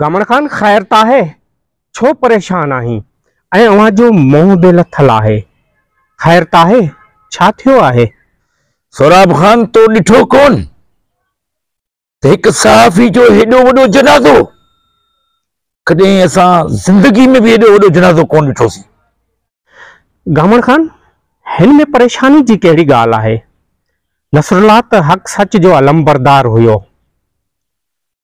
گامڻ خان خير ته آهي، ڇو پريشان آهين ۽ اوهان جو منهن به لٿل آهي، خير ته آهي، ڇا ٿيو آهي؟ سهراب خان تو ڏٺو ڪون ته هڪ صحافي جو هيڏو وڏو جنازو، ڪڏهن اسان زندگي ۾ به هيڏو وڏو جنازو ڪون ڏٺوسين. گامڻ خان هن ۾ پريشاني جي ڪهڙي ڳالهه آهي، نصرالله ته حق سچ جو علمبردار هيو.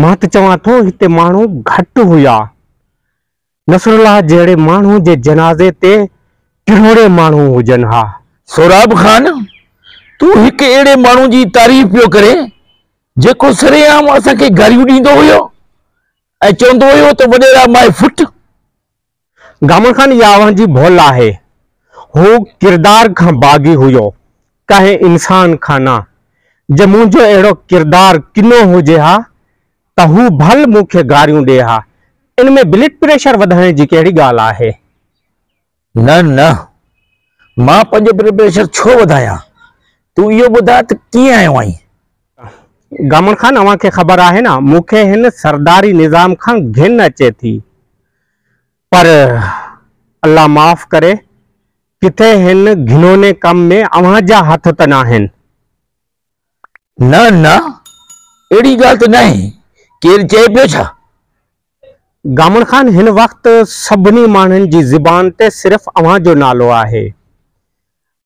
مان ته چوان ٿو هتي ماڻهو گهٽ هيا. نصرالله جهڙي ماڻهو جي جنازي تي ڪروڙين ماڻهو هجن ها. سهراب خان تون هڪ اهڙي ماڻهو جي تعريف پيو ڪرين جيڪو سري عام اسان کي گاريون ڏيندو هيو ۽ چوندو هيو ته وڏيرا مائي فٽ. گامن خان اها اوهان جي ڀول آهي. هو ڪردار کان باغي هيو، ڪنهن انسان کان نه. جي منهنجو اهڙو ڪردار ڪنو هجي ها ته هو ڀل مون کي گاريون ڏي ها. ان ۾ بلڊ پريشر وڌائڻ جي ڪهڙي ڳالهه آهي؟ نه نه، مان پنهنجو بلڊ پريشر ڇو وڌايان؟ تون اهو ٻڌاء ته ڪيئن آيو آهين؟ گامن خان اوهان کي خبر آهي نه مون کي هن سرداري نظام کان گهن اچي ٿي. پر الله معاف ڪري، ڪٿي هن گهنوني ڪم ۾ اوهان جا هٿ ته ناهن؟ نه نه، اهڙي ڳالهه ته ناهي، ڪير چئي پيو ڇا؟ گامڻ خان هن وقت سڀني ماڻهن جي زبان تي صرف اوهان جو نالو آهي.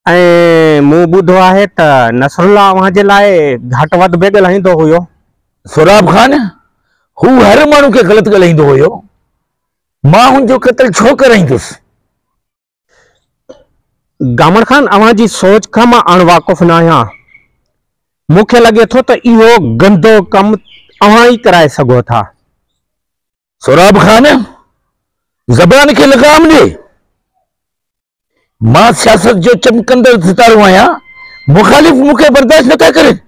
۽ مون ٻڌو آهي ته نصرالله اوهان جي لاء گهٽ وڌ به ڳلهائيندو هيو. سهراب خان، هو هر ماڻهو کي غلط ڳلهائيندو هيو. مان هن جو قتل ڇو ڪرائيندس؟ گامڻ خان، اوهان جي سوچ کان مان اڻ واقف ناهيان. مون کي لڳي ٿو ته اهو گندو ڪم اوهان ئي ڪرائي سگهو ٿا. سهراب خان، زبان کي لغام ڏي. مان سياست جو چمڪندڙ ستارو آهيان، مخالف مون کي برداشت نٿا ڪرين.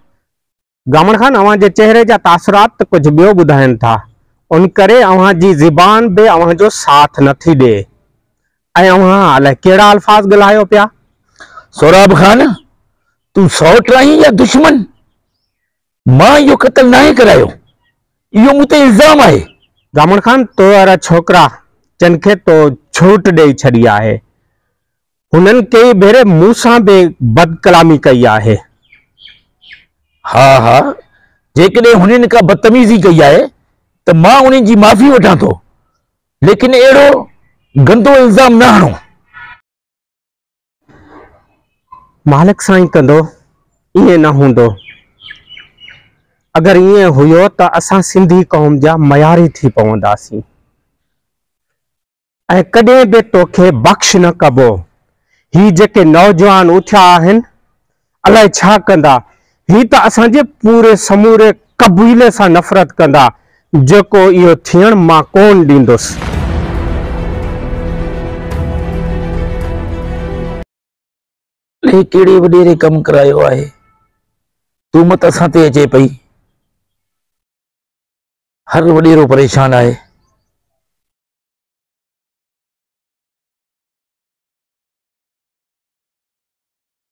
گامڻ خان اوهان جي چهري جا تاثرات ته ڪجهه ٻيو ٻڌائين ٿا، ان ڪري اوهان جي زبان به اوهان جو ساٿ نٿي ڏئي ۽ اوهان الائي ڪهڙا الفاظ ڳلهايو پيا. سهراب خان تون سئوٽ آهين يا دشمن؟ مان اهو قتل ناهي ڪرايو، اهو مون تي الزام آهي. ضامن خان، تو اهڙا ڇوڪرا جن کي تو جهوٽ ڏئي ڇڏي آهي، هنن ڪيئي ڀيري مون سان به بدڪلامي ڪئي آهي. ها ها، جيڪڏهن هنن ڪا بدتميزي ڪئي آهي ته مان انهن جي معافي وٺان ٿو، ليڪن اهڙو گندو الزام نه هڻو. مالڪ سائين ڪندو ائين نه هوندو. اگر ائين هيو ته اسان سنڌي قوم جا مياري ٿي پونداسين ۽ ڪڏهن به توکي بخش نه ڪبو. هي جيڪي نوجوان اٿيا آهن الائي ڇا ڪندا، هي ته اسان جي پوري سموري قبيلي سان نفرت ڪندا، جيڪو اهو ٿيڻ مان ڪون ڏيندس. هي ڪهڙي وڏيري ڪم ڪرايو آهي، تومت اسان تي اچي پئي، هر وڏيرو پريشان آهي.